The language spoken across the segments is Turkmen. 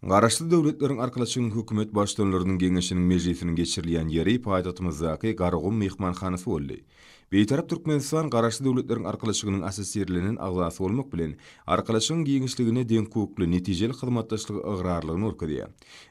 Garaşsyz Döwletleriň Arkalaşygynyň Hökümet Baştutanlarynyň Geňeşiniň mejlisiniň geçirilýän ýeri paýtagtymyzdaky Garagum myhmanhanasy boldy. Bitarap Türkmenistan Garaşsyz Döwletleriň Arkalaşygynyň assosirlenen agzasy bolmak bilen, Arkalaşygyň giňişligine deňhukukly, netijeli hyzmatdaşlyga ygrarlygyny görkezýär.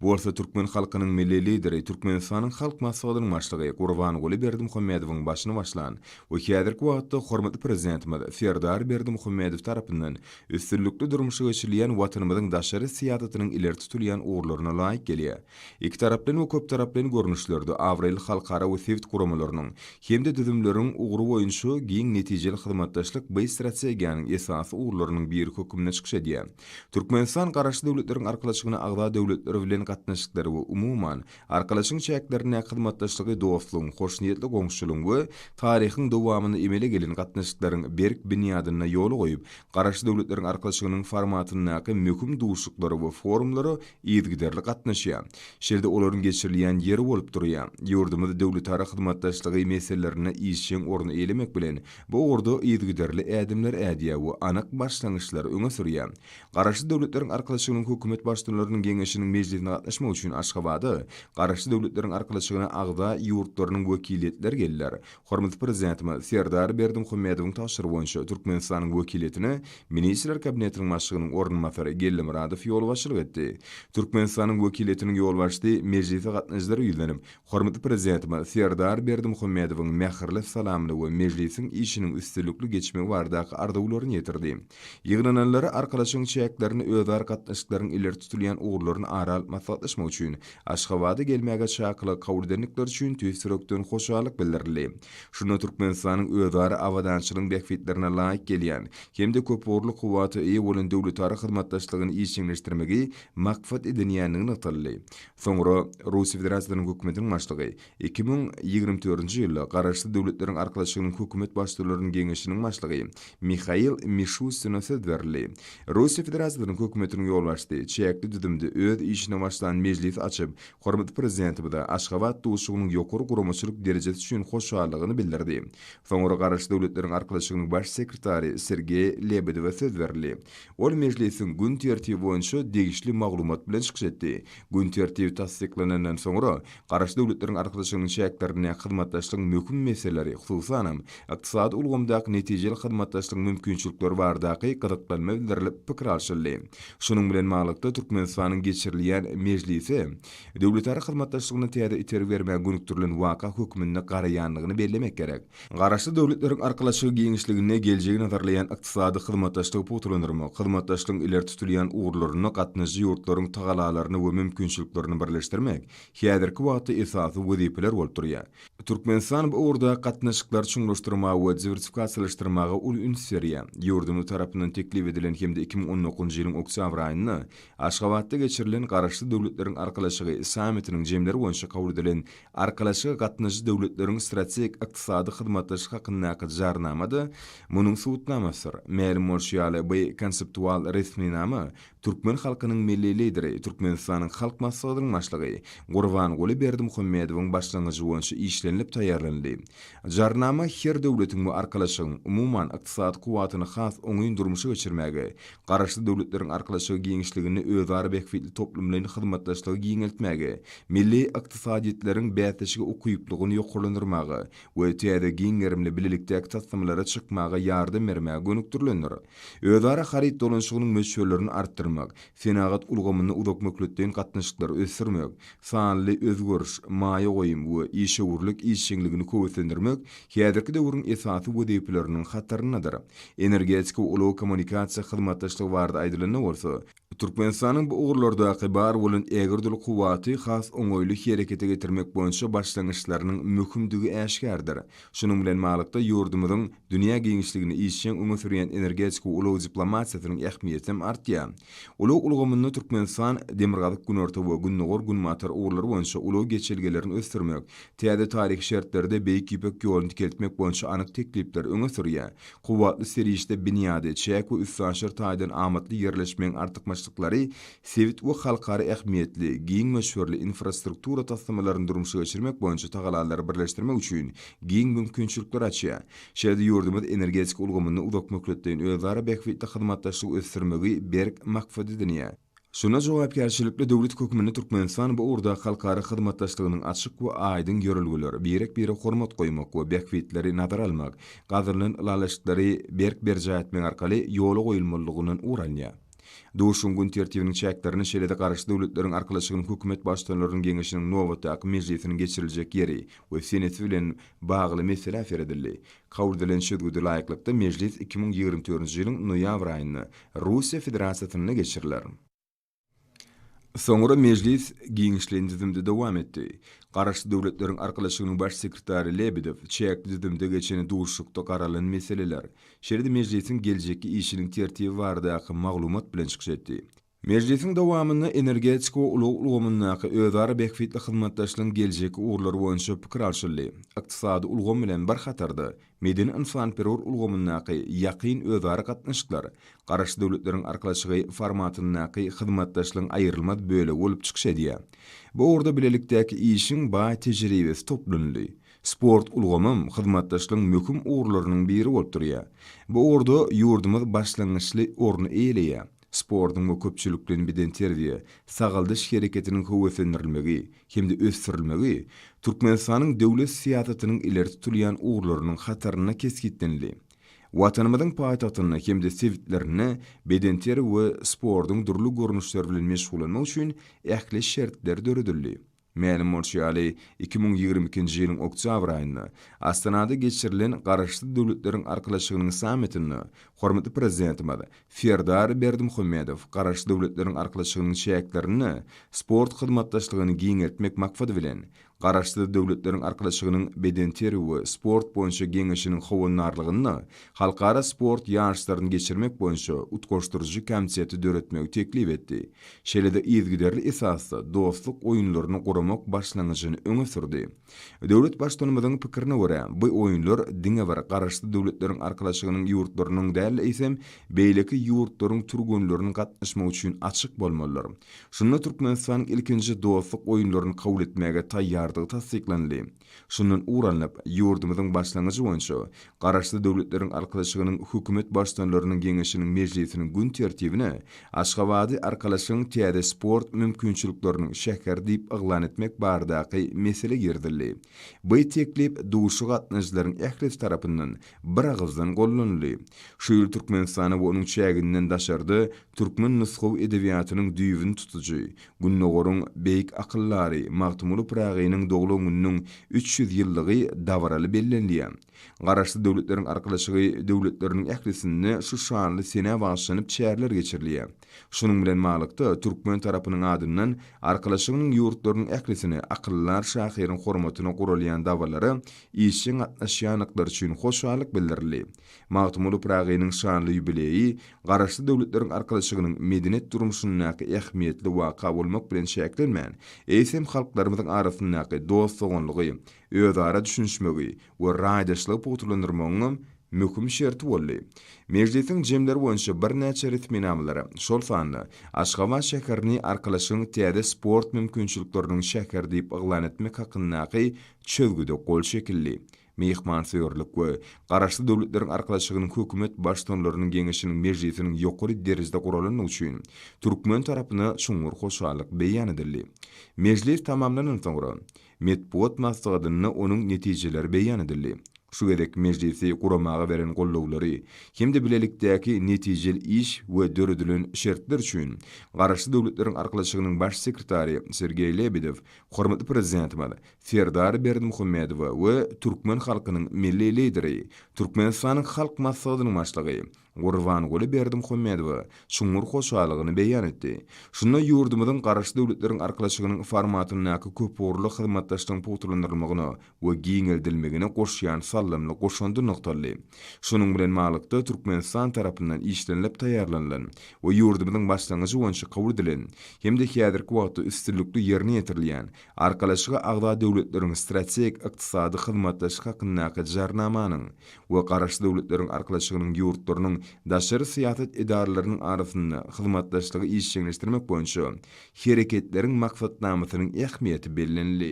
Bu bolsa türkmen halkynyň Milli Lideri, Türkmenistanyň Halk Maslahatynyň Başlygy Gurbanguly Berdimuhamedowyň başyny başlan we häzirki wagtda hormatly Prezidentimiz Serdar Berdimuhamedow tarapyndan üstünlikli durmuşa geçirilýän Watanymyzyň daşary syýasatynyň ileri tutulýan ugurlaryna laýyk gelýär. Ikitaraplaýyn we köptaraplaýyn görnüşlerde abraýly halkara we sebit guramalarynyň hem-de düzümleriniň ugry boýunça giň netijeli hyzmatdaşlyk bi strategiýanyň esasy ugurlarynyň biri hökmünde çykyş edýär. Türkmenistan Garaşsyz Döwletleriň Arkalaşygyna agza döwletler bilen gatnaşyklary we umuman, Arkalaşygyň çäklerindäki hyzmatdaşlygy dostlugyň, hoşniýetli goňşuçylygyň we taryhyň dowamynda emele gelen gatnaşyklaryň berk binýadynda ýola goýup, Garaşsyz Döwletleriň Arkalaşygynyň formatyndaky möhüm duşuşyklara we forumlara yzygiderli gatnaşýar. Şeýle-de olaryň geçirilýän ýeri bolup durýar. Ýurdumyz döwletara hyzmatdaşlygy meselelerinde işjeň orun eýlemek bilen, bu ugurda yzygiderli ädimler ädýär we anyk başlangyçlary öňe sürýär. Garaşsyz Döwletleriň Arkalaşygynyň Hökümet Baştutanlarynyň Geňeşiniň mejlisine gatnaşmak üçin Aşgabada Garaşsyz Döwletleriň Arkalaşygyna agza ýurtlarynyň wekiliýetleri geldiler. Hormatly Prezidentimiz Serdar Berdimuhamedowyň tabşyrygy boýunça Türkmenistanyň wekiliýetine Ministrler Kabinetiniň Başlygynyň orunbasary Gellimyradow ýolbaşçylyk etdi. Türkmenistanyň wekiliýetiniň ýolbaşçysy mejlise gatnaşyjylara ýüzlenip, hormatly Prezidentimiz Serdar Berdimuhamedowyň mähirli salamyny we mejlisiň işiniň üstünlikli geçmegi baradaky arzuwlaryny ýetirdi. Ýygnananlara Arkalaşygyň çäklerinde özara gatnaşyklaryň ileri tutulýan ugurlaryny ara alyp maslahatlaşmak üçin Aşgabada gelmäge çakylygy kabul edendikleri üçin tüýs ýürekden hoşallyk bildirildi. Şunda Türkmenistanyň özara abadançylygyň bähbitlerine laýyk gelýän hem-de köpugurly kuwwata eýe bolan döwletara hyzmatdaşlygyny işjeňleşdirmegi maksat edinýändigi nygtaldy. Soňra Russiýa Federasiýasynyň Hökümetiniň Başlygy Iki müň ýigrimi dördünji ýylda Garaşsyz Döwletleriň Arkalaşygynyň Hökümet Baştutularynyň Geňeşiniň başlygy Mihail Mişustina söz berildi. Russiýa Federasiýasynyň Hökümetiniň ýolbaşçysy çäkli düzümde öz işine başlan mejlisi açyp, hormatly Prezidentimize Aşgabat duşuşygynyň ýokary guramaçylyk derejesi üçin hoşallygyny bildirdi. Soňra Garaşsyz Döwletleriň Arkalaşygynyň Baş sekretary Sergeý Lebedewe söz berildi. Ol mejlisiň gün tertibi boýunça degişli maglumat bilen çykyş etdi. Gün tertibi tassyklanandan soňra, Garaşsyz Döwletleriň Arkadaşlygynyň çäklerinde hyzmatdaşlygyň möhüm meseleleri, hususanam, ykdysady ulgamdaky netijeli hyzmatdaşlygyň mümkinçilikleri baradaky gyzyklanma bildirilip pikir alşyldy. Şunuň bilen baglylykda, Türkmenistanyň geçirilýän mejlisi döwletara hyzmatdaşlygyna täze itergi bermäge gönükdirilen waka hökmünde garaýandygyny bellemek gerek. Garaşsyz döwletleriň arkalaşygy giňişliginde geljegi nazarlaýan ykdysady hyzmatdaşlygy pugtalandyrmak, hyzmatdaşlygyň ileri tutulýan ugurlarynda gatnaşyjy ýurtlaryň tagalalaryny we mümkinçiliklerini birleşdirmek häzirki wagtda esasy wezipeler bolup durýar. Türkmenistan bu ugurdaky gatnaşyklary çuňlaşdyrmaga we diwersifikasiýalaşdyrmaga uly üns berýär. Ýurdumyz tarapyndan teklip edilen hem-de iki müň on dokuzynjy ýylyň oktýabr aýynda Aşgabatda geçirilen Garaşsyz döwletleriň arkalaşygy sammitiniň jemleri boýunça kabul edilen Arkalaşyga gatnaşyjy döwletleriň strategik ykdysady hyzmatdaşlyk hakyndaky Jarnama-da munuň subutnamasydyr. Mälim bolşy ýaly, bu konseptual resminama türkmen halkynyň Milli Lideri, Türkmenistanyň Halk Maslahatynyň Başlygy Gurbanguly Berdimuhamedowyň başlangyjy boýunça işlenilip taýýarlanyldy. Jarnama her döwletiň we arkalaşygyň, umuman, ykdysady kuwwatyny has oňyn durmuşa geçirmäge, Garaşsyz Döwletleriň Arkalaşygy giňişliginde özara bähbitli toplumlaýyn hyzmatdaşlygy giňeltmäge, milli ykdysadyýetleriň bäsleşige ukyplygyny ýokarlandyrmaga we täze giň gerimli bilelikdäki taslamalara çykmaga ýardam bermäge gönükdirilendir. Özara haryt dolanyşygynyň möçberlerini artdyrmak, senagat ulgamynda uzak möhletleýin gatnaşyklary ösdürmek, sanly özgeriş, maýa goýum we işewürlik işjeňligini köwüslendirmek häzirki döwrüň esasy wezipeleriniň hataryndadyr. Energetika, ulag, kommunikasiýa hyzmatdaşlygy barada aýdylanda bolsa, Türkmenistanyň bu ugurlardaky bar bolan ägirdül kuwwaty has oňaýly herekete getirmek boýunça başlangyçlarynyň möhümdigi äşgärdir. Şunuň bilen baglykda, ýurdumyzyň dünýä giňişliginde işjeň öňe sürýän energetika ulag diplomatiýasynyň ähmiýeti hem artýar. Ulag ulgamynda Türkmenistan demirgazyk-günorta we gündogar-günbatar ugurlary boýunça ulag geçelgelerini ösdürmek, Täze taryhy şertlerde Beýik Ýüpek ýoluny dikeltmek boýunça anyk teklipler öňe sürýär. Kuwwatly serişde binýady, çäk we üstaşyr taýdan amatly ýerleşmegiň artykmaçlyklary sebit we halkara ähmiýetli, giň möçberli infrastruktura taslamalaryny durmuşa geçirmek boýunça tagalalary birleşdirmek üçin giň mümkinçilikleri açýar. Şeýle-de ýurdumyz energetika ulgamynda uzakmöhletleýin özara bähbitli hyzmatdaşlygy ösdürmegi berk maksat edinýär. Şunda jogapkärçilikli döwlet hökmünde Türkmenistan bu ugurdaky halkara hyzmatdaşlygynyň açyk we aýdyň ýörelgeleri, birek-bire hormat goýmak we bähbitleri nazara almak, gazanylan ylalaşyklary berk berjaý etmek arkaly ýola goýulmalydygyndan ugur alýar. Duşuşygyň gün tertibiniň çäklerini şeýle-de Garaşsyz Döwletleriň Arkalaşygynyň Hökümet Baştutanlarynyň Geňeşiniň nobatdaky mejlisiniň geçiriljek ýeri we senesi bilen bagly meselä seredildi. Kabul edilen çözgüde laýyklykda, mejlis iki müň ýigrimi dördünji ýylyň noýabr aýynda Russiýa Federasiýasynda geçiriler. Soňra mejlis giňişleýin düzümde dowam etdi. Garaşsyz Döwletleriň Arkalaşygynyň Baş sekretary Lebedew çäkli düzümde geçen duşuşykda garalan meseleler, şeýle-de mejlisiň geljekki işiniň tertibi baradaky maglumat bilen çykyş etdi. Mejlisiň dowamynda energetika we ulag ulgamyndaky özara bähbitli hyzmatdaşlygyň geljekki ugurlary boýunça pikir alşyldy, ykdysady ulgam bilen bir hatarda, Medeni-ynsanperwer ulgamyndaky ýakyn özara gatnaşyklar Garaşsyz Döwletleriň Arkalaşygy formatyndaky hyzmatdaşlygyň aýrylmaz bölegi bolup çykyş edýär. Bu ugurda bilelikdäki işiň baý tejribesi toplanyldy. Sport ulgamam hyzmatdaşlygyň möhüm ugurlarynyň biri bolup durýar. Bu ugurda ýurdumyz başlangyçly orny eýeleýär. sportuň we köpçülikleýin bedenterbiýe, sagaldyş hereketiniň höweslendirilmegi hem-de ösdürilmegi Türkmenistanyň döwlet syýasatynyň ileri tutulýan ugurlarynyň hatarynda kesgitlenildi. Watanymyzyň paýtagtynda hem-de sebitlerinde bedenterbi we sportuň dürli görnüşleri bilen meşgullanmak üçin ähli şertler döredildi. Mälim bolşy ýaly, iki müň ýigrimi ikinji ýylyň oktýabr aýynda Astanada geçirilen Garaşsyz Döwletleriň Arkalaşygynyň sammitinde hormatly Prezidentimiz Serdar Berdimuhamedow Garaşsyz Döwletleriň Arkalaşygynyň çäklerinde sport hyzmatdaşlygyny giňeltmek maksady bilen Garaşsyz Döwletleriň Arkalaşygynyň Bedenterbiýe we sport boýunça geňeşiniň howandarlygynda halkara sport ýaryşlaryny geçirmek boýunça utgaşdyryjy komiteti döretmegi teklip etdi, şeýle-de yzygiderli esasda dostluk oýunlaryny guramak başlangyjyny öňe sürdi. Döwlet Baştutanymyzyň pikirine görä, bu oýunlar diňe bir Garaşsyz Döwletleriň Arkalaşygynyň ýurtlarynyň däl-de, eýsem, beýleki ýurtlaryň türgenleriniň gatnaşmagy üçin açyk bolmalydyr. Şunda Türkmenistanyň ilkinji dostluk oýunlaryny kabul etmäge taýýardygy tassyklandy. Şundan ugur alnyp, ýurdumyzyň başlangyjy boýunça Garaşsyz Döwletleriň Arkalaşygynyň Hökümet Baştutanlarynyň Geňeşiniň mejlisiniň gün tertibine Aşgabady Arkalaşygyň täze sport mümkinçilikleriniň şäheri diýip yglan etmek baradaky mesele girizildi. By teklip duşa gatnaýjylaryň ählisi tarapyndan biragyzdan gollanyldy. Şu ýyl Türkmenistana we onuň çäginden daşarda türkmen nusgawy edebiýatynyň düýbüni tutujy, Gündogaryň beýik akyldary Magtymguly Pyragynyň doglan gününiň üç ýüz ýyllygy dabaraly bellenilýär. Garaşsyz Döwletleriň Arkalaşygy döwletleriniň ählisinde şu şanly senä bagyşlanyp çäreler geçirilýär. Şunuň bilen baglykda, türkmen tarapynyň adyndan Arkalaşygynyň ýurtlarynyň ählisine akyldar şahyryň hormatyna guralýan dabarlara işjeň gatnaşýandyklary üçin hoşallyk bildirildi. Magtymguly Pyragynyň şanly ýubileýi Garaşsyz Döwletleriň Arkalaşygynyň medeniýet durmuşyndaky ähmiýetli waka bolmak bilen çäklenmän, eýsem halklarymyzyň arasyndaky dost-doganlygy, özara düşünişmegi we raýdaşlygy pugtalandyrmagyňam möhüm şerti boldy. Mejlisiň jemleri boýunça birnäçe resminamalara, şol sanda Aşgabat şäherini Arkalaşygyň täze sport mümkinçilikleriniň şäheri diýip yglan etmek hakyndaky çözgüde gol çekildi. Myhmansöýerlik we Garaşsyz Döwletleriň Arkalaşygynyň Hökümet Baştutanlarynyň Geňeşiniň mejlisiniň ýokary derejede guralandygy üçin türkmen tarapyna çuňňur hoşallyk beýan edildi. Mejlis tamamlandan soňra, metbugat maslahatynda onuň netijeleri beýan edildi. Şu gezek mejlisi guramaga beren goldawlary hem-de bilelikdäki netijeli iş we döredilen şertler üçin Garaşsyz Döwletleriň Arkalaşygynyň Baş sekretary Sergeý Lebedew hormatly Prezidentimiz Serdar Berdimuhamedowa we türkmen halkynyň Milli Lideri, Türkmenistanyň Halk Maslahatynyň Başlygy Gurbanguly Berdimuhamedowa çuňňur hoşallygyny beýan etdi. Şunda ýurdumyzyň Garaşsyz Döwletleriň Arkalaşygynyň formatyndaky köpugurly hyzmatdaşlygyň pugtalandyrylmagyna we giňeldilmegine goşýan saldamly goşandy nygtaldy. Şunuň bilen baglykda, Türkmenistan tarapyndan işlenilip taýýarlanylan we ýurdumyzyň başlangyjy boýunça kabul edilen hem-de häzirki wagtda üstünlikli ýerine ýetirilýän Arkalaşyga agza döwletleriň Strategik ykdysady hyzmatdaşlyk hakyndaky Jarnamanyň we Garaşsyz Döwletleriň Arkalaşygynyň ýurtlarynyň daşary syýasat edaralarynyň arasynda hyzmatdaşlygy işjeňleşdirmek boýunça Hereketleriň maksatnamasynyň ähmiýeti bellenildi.